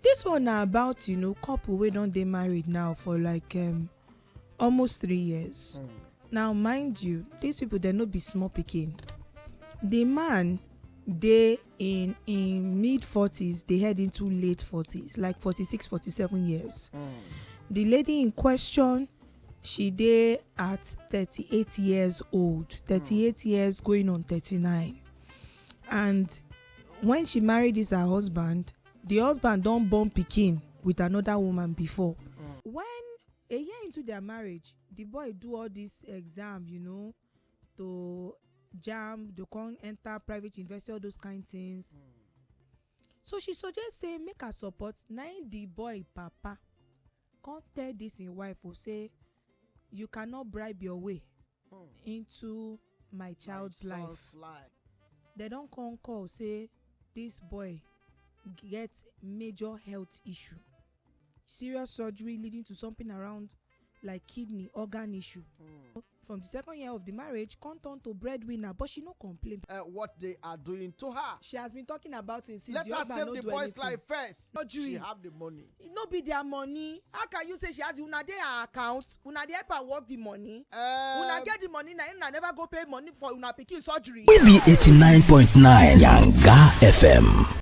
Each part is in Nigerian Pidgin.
Dis one na about you know couple wey don dey married now for like um, almost three years. Mm. Now mind you, these people dem no be small pikin. The man dey in in mid forties dey head into late forties like forty six forty seven years. Mm. The lady in question she dey at thirty eight years old thirty eight mm. years going on thirty nine and when she marry this her husband the husband don born pikin with another woman before when a year into their marriage the boy do all this exam you know to jam to come enter private university all those kind things so she suggest say make her support na im the boy papa come tell dis im wife o say you cannot bribe your way hmm. into my child's life dem don come call say dis boy get major health issue serious surgery leading to something around like kidney organ issue hmm. From the second year of the marriage, come turn to breadwinner, but she no complain. Uh, what they are doing to her. She has been talking about it since Let the husband no do anything. Let her save the boy's life first. No She have the money. It no be their money. How can you say she has una dey her account? Una dey help her work the money. Um, una get the money na una never go pay money for una pikin surgery. We be eighty nine point nine Yanga FM.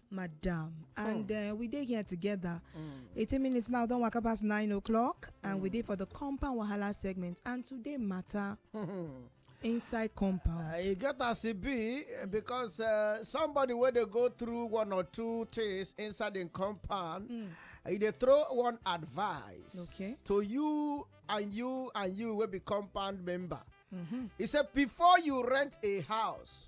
madam and hmm. uh, we dey here together hmm. 18 minutes now don waka past 9 o'clock and we hmm. dey for the compound wahala segment and today matter inside compound uh, e get as e be because uh, somebody wey dey go through one or two things inside im compound e dey throw one advice Okay. to you and you and you wey be compound member mm-hmm. e say before you rent a house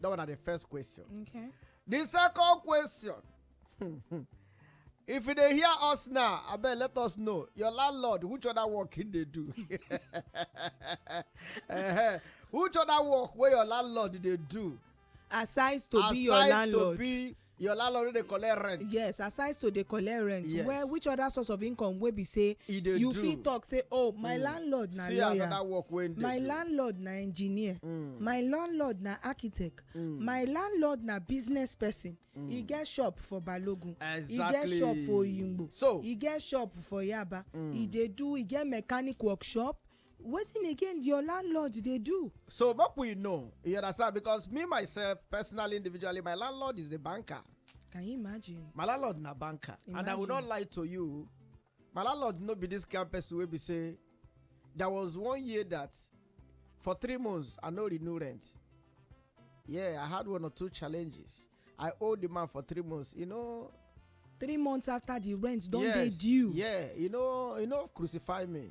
That one na the first question. Okay. The second question. if you dey hear us now abeg let us know your landlord which other work he dey do uh-huh. which other work wey your landlord dey do aside to be your landlord aside to be your landlord no dey collect rent yes aside to dey collect rent yes. where which other source of income wey be say you do. fit talk say oh my mm. landlord na See lawyer work wey my do. landlord na engineer mm. my landlord na architect mm. my landlord na business person mm. e get shop for balogun exactly. e get shop for oyingbo so e get shop for yaba mm. e dey do e get mechanic workshop wetin again your landlord dey do So make we know, you understand? Because me myself, personally, individually, my landlord is a banker. can you imagine My landlord na banker, and I will not Imagine. lie to you. My landlord no be this kind person wey be say there was one year that for three months I no renew rent. Yeah, I had one or two challenges. I owe the man for three months. You know, three months after the rent don dey yes, due Yeah, you know, you know, crucify me.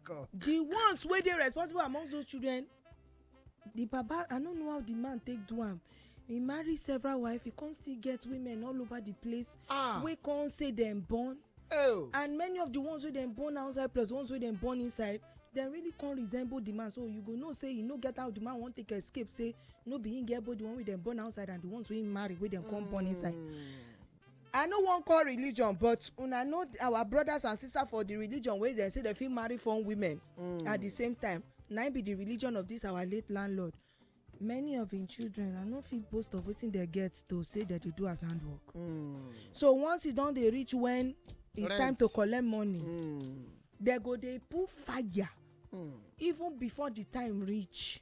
God. the ones wey dey responsible among those children the baba i no know how the man take do am he marry several wife he come still get women all over the place ah. wey come say dem born oh. and many of the ones wey dem born outside plus ones wey dem born inside dem really come resemble the man so you go know say you no get how the man wan take escape say no be him get both the one wey dem born outside and the ones wey him marry wey dem come born inside hmm. i no wan call religion but una know our brothers and sisters for the religion wey dem say dem fit marry foreign women mm. at the same time na be the religion of this our late landlord many of im children i no fit boast of wetin dem get to say dem dey do as handwork mm. so once e don dey reach when it's time to collect money dem mm. go dey put fire even before the time reach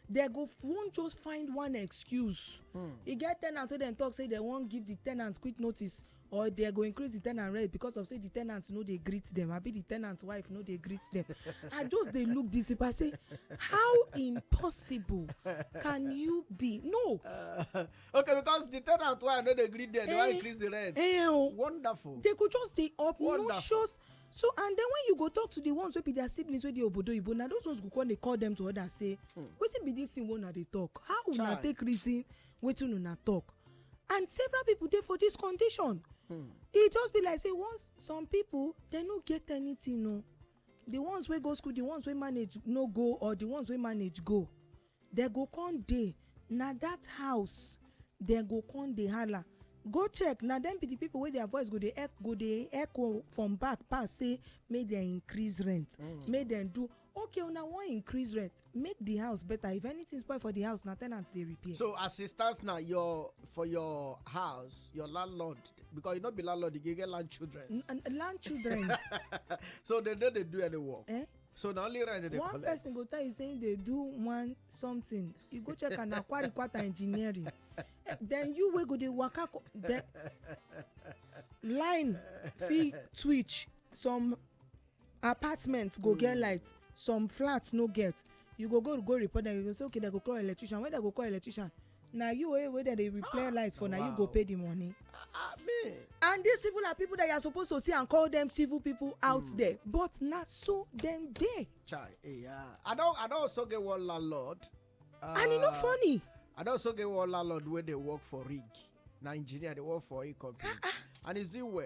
they go wan just find one excuse hmm. e get tenant wey dem talk say dem wan give the tenant quick notice or they go increase the tenant rent because of say the tenant no dey greet them abi the tenant wife no dey greet them i just dey look this people i say how impossible can you be no. Uh, okay because the tenant wife no dey greet them they wan eh, increase the rent. Eh, oh. wonderful. they go just dey obnoxious. Wonderful so and then when you go talk to the ones wey be their siblings wey dey obodo oyibo na those ones go come dey call them to others say hmm. wetin be this thing wey una dey talk how una take reason wetin una talk and several people dey for this condition hmm. e just be like say once some people dem no get anything o the ones wey go school the ones wey manage no go or the ones wey manage go Dem go come dey, na dat house dem go come dey hala. Go check, na dem be di pipo wey dia voice go dey echo go dey echo from back pass say make dem increase rent, make dem do. Okay, una wan increase rent, make di house betta. If anytin spoil for di house, na ten ant dey repair. So as e stand now, your for your house, your landlord, because you no be landlord again, you get land children. Land children. So dem no dey do any work. Eh? so na only rent dem dey collect one person go tell you say he dey do one something you go check am na kwari kwata engineering then you wey go dey waka the line fit twitch some apartment go get hmm. light some flats no get you go go go report dem you go say okay dem go call electrician when dem go call electrician na you wey wey dem dey repair ah, light for na you go pay the money. Ah, ah, and these people are people that you are supposed to see and call them civil people out hmm. there but na so dem dey. chai eh, i don i don also get one landlord. and e no funny. i don also get one landlord wey dey work for rig na engineer dey work for a company and e still well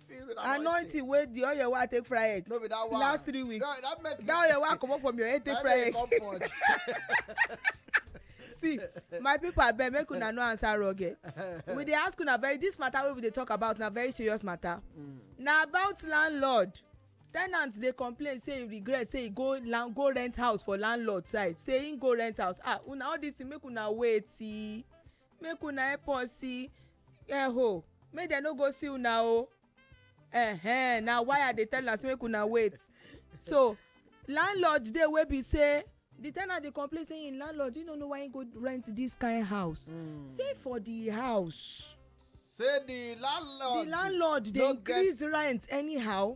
anointing wey the oil wey i take fry egg no be that one last three weeks that, that, make that oil wey i comot from your head take fry egg see my people abeg make una no answer wrong eh we dey ask una very this matter wey we dey talk about na very serious matter mm. na about landlord tenant dey complain say e regret say e go land go rent house for landlord side say im go rent house ah una all this thing make una wait see make una help us see eho make dem no go see una o eh na why i dey tell una say make una wait so landlord dey wey be say the tenant dey complain say im landlord you no know why im go rent this kind house hmm. say for the house say the landlord the landlord dey increase rent anyhow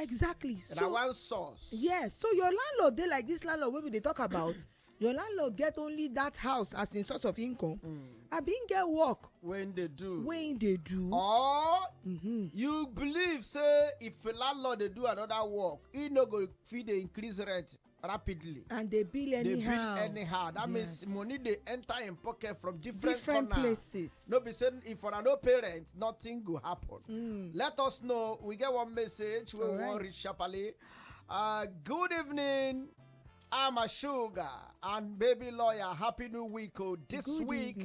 exactly so na one source yes so your landlord dey like this landlord wey we dey talk about your landlord get only that house as im source of income hmm. I bin get work wey im dey do wey im dey do or mm-hmm. you believe say if landlord dey do another work e no go fit dey increase rent rapidly and dey bill anyhow dey bill anyhow that means money dey enter im pocket from different different places no be say if una no pay rent nothing go happen hmm. let us know we get one message wey we wan reach sharply uh, good evening i'm a sugar and baby lawyer happy new week oh this week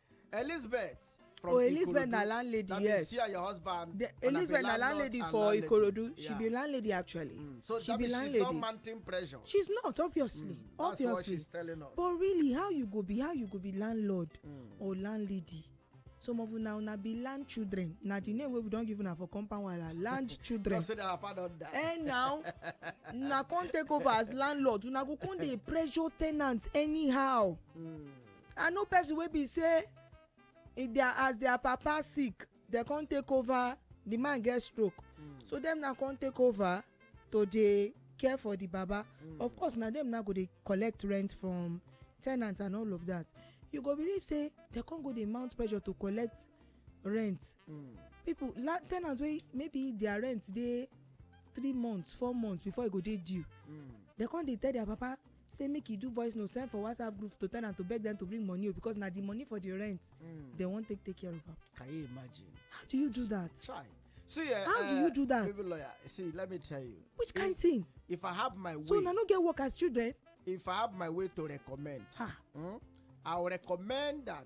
elizabeth from oh elizabeth na landlady that yes that you see your husband the, elizabeth na landlady for landlady. ikorodu yeah. she be landlady actually mm. so she be landlady she's not mounting pressure she's not obviously mm. obviously that's what she's telling us but really how you go be how you go be landlord mm. or landlady some of una una be land children na the name wey we don give una for compound wahala land children no say their papa don die eh now una come take over as landlord una go come dey pressure ten ants anyhow. Mm. i know person wey be say if their as their papa sick dem come take over the man get stroke mm. so dem now come take over to dey care for the baba mm. of course na dem now go dey collect rent from tenant and all of that you go believe say dem come go dey mount pressure to collect rent mm. people la tenants wey maybe their rent dey three months four months before e go dey due mm. dem come dey tell their papa say make e do voice note send for whatsapp group to ten ant to beg them to bring money o oh, because na the money for the rent mm. they wan take take care of am. can you imagine. how do you do that. try see uh, how uh, do you eh, do that. baby lawyer see let me tell you. which if, kind thing. if i have my way. so una no get work as children. if i have my way to recommend. Ha. Hmm, i will recommend that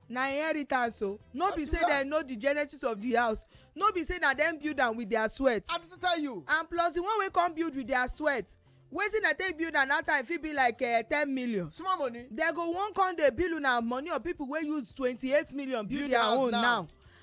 na inheritance o no be say dem know the genesis of the house no be say na dem build am with their sweat i just tell you and plus the one wey come build with their sweat wetin dem take build am that time fit be like eh, ten million small money dem go wan come dey bill una money of people wey use twenty-eight million build their own now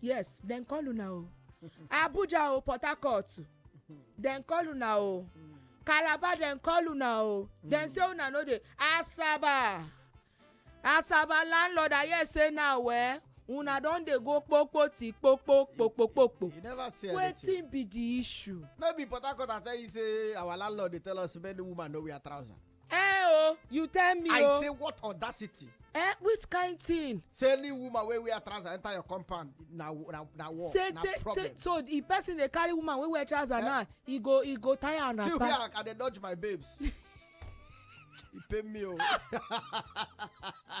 yes dem call una o abuja o port harcourt dem call una o calabar dem call una o dem say una no dey asaba asaba landlord i hear say now eh una don dey go kpokpo ti kpokpo kpokpo kpokpo you never see anything wetin be the issue. no be port harcourt i tell you say our landlord dey tell us men woman no wear trouser. eh o you tell me o i say what audacity eh which kind thing. say any woman wey wear trouser enter your compound na na na war say, na say, problem. say so the person dey carry woman wey wear trouser eh? now he go he go tire am na pa. see where i dey dodge my babes. e pay me o. Oh.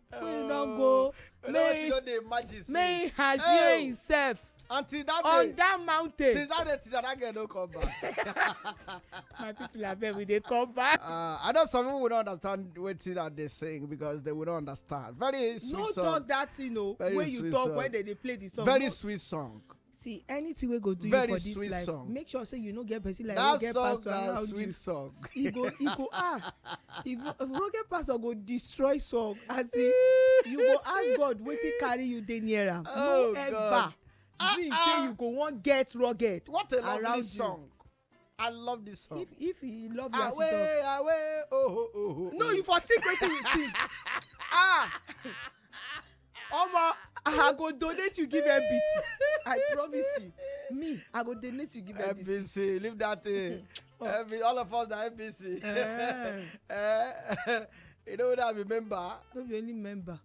wey don go may may hashire himself until that day on that mountain since that day till that girl no come back. my people abeg we dey come back. Uh, i know some people no understand wetin i dey sing because they will not understand very sweet no song no talk that thing o wey you talk song. when they dey play the song. very no. sweet song. See anything wey go do you for this life song. make sure say you no get person like roge pastor around you song. e go e go ah if roge pastor go destroy song as in you go ask god wetin carry you dey near am oh, no ever dream ah, say ah. you go wan get rugged what a lovely song I love this song. If if he love you as you talk. Away, away, oh, oh, oh, oh. No, you for sing wetin you sing. ah. Omo, I go donate you give NBC. I promise you. Me, I go donate you give NBC. NBC, leave that thing. oh. NBC, all of us are NBC. Uh. uh, you know what I remember? No be only member.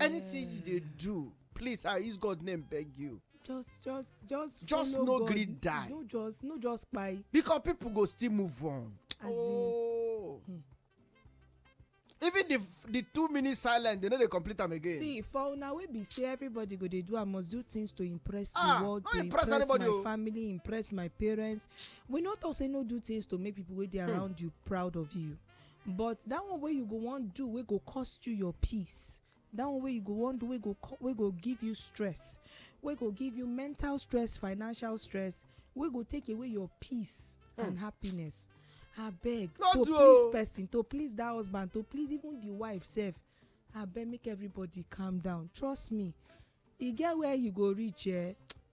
anything you dey do please i use god name beg you just just just just no gree die no just no just kpai because people go still move on As oh hmm. even the the two minutes silent they no dey complete am again see for una wey be say everybody go dey do i must do things to impress the ah, world to impress my oh. family impress my parents we no talk say no do things to make people wey dey hmm. around you proud of you but that one wey you go wan do wey go cost you your peace that one wey you go wan do wey go co- wey go give you stress wey go give you mental stress financial stress wey go take away your peace and happiness abeg No to do o. please person to please that husband to please even the wife sef abeg make everybody calm down trust me e get where you go reach eh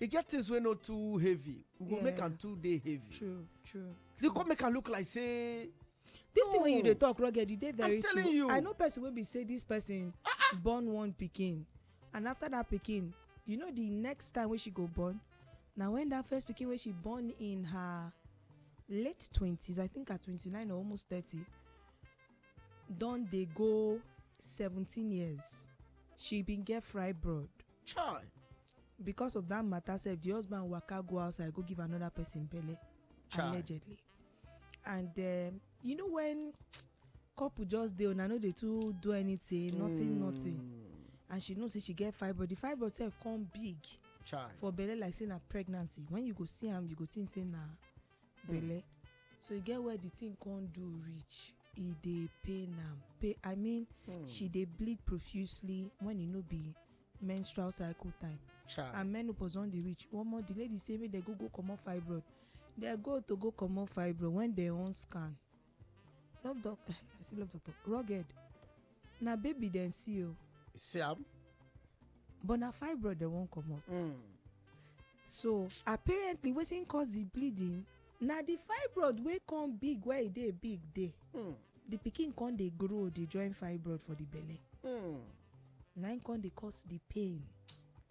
e get things wey no too heavy we go make am too dey heavy true true you come make am look like say this thing wey you dey talk rugged e dey very true i know person wey be say this person ah, ah. born one pikin and after that pikin you know the next time wey she go born na when that first pikin wey she born in her late twenties i think her twenty-nine or almost thirty don dey go seventeen years she bin get fibroid Chai! Because of that matter sef, the husband waka go outside go give another person belle Chai. allegedly. And um, you know when couple just dey una no dey too do anything, mm. nothing, nothing. Hmm. And she know say she get fibroid. The fibroid sef come big. Chai. For belle like say na pregnancy. When you go see am, you go think say na belle so e get where the thing come do reach e dey pain am pain i mean hmm. she dey bleed profusely when e no be menstrual cycle time Child. and menopause don dey reach one more the lady say make dem go go comot fibroid dem go to go comot fibroid when dem wan scan love doctor eh, i say love doctor rugged na baby dem see o. Oh. see am. but na fibroid dem wan comot. Mm. so apparently wetin cause the bleeding na the fibroid wey come big where e dey big dey Hmm. the pikin come dey grow dey join fibroid for the belle Hmm. na im come dey cause the pain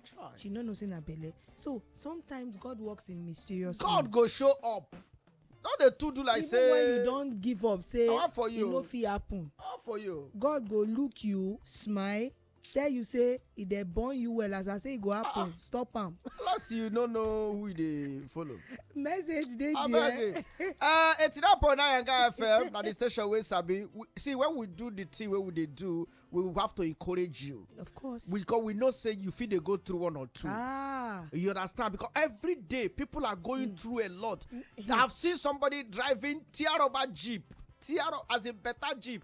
Chai. she no know say na belle so sometimes god works in mysterious god ways. go show up no dey too do like even say when you don give up say I want for e you. no fit happen how for you god go look you smile tell you say e dey born you well as i say e go happen ah. stop am plus you no know who you dey follow message dey there uh, eighty nine point nine yanga fm na the station wey sabi see when we do the thing wey we dey do we have to encourage you of course because we know say you fit dey go through one or two ah you understand because every day people are going mm. through a lot mm. i have seen somebody driving tear rubber jeep tear up as a better jeep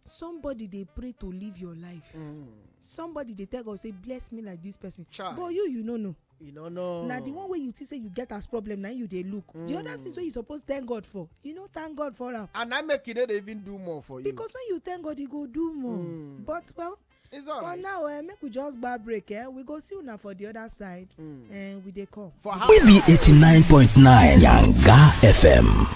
somebody dey pray to live your life mm. somebody dey tell god say bless me like this person Child. but you you no know you no know na the one wey you think say you get as problem na you dey look mm. the other things wey you suppose thank god for you no thank god for am and i make you no dey even do more for you because when you thank god you go do more mm. but well it's all right. for now eh, make we just gba break eh? we go see una for the other side mm. eh, we dey come. for how. we be eighty nine point nine yanga fm.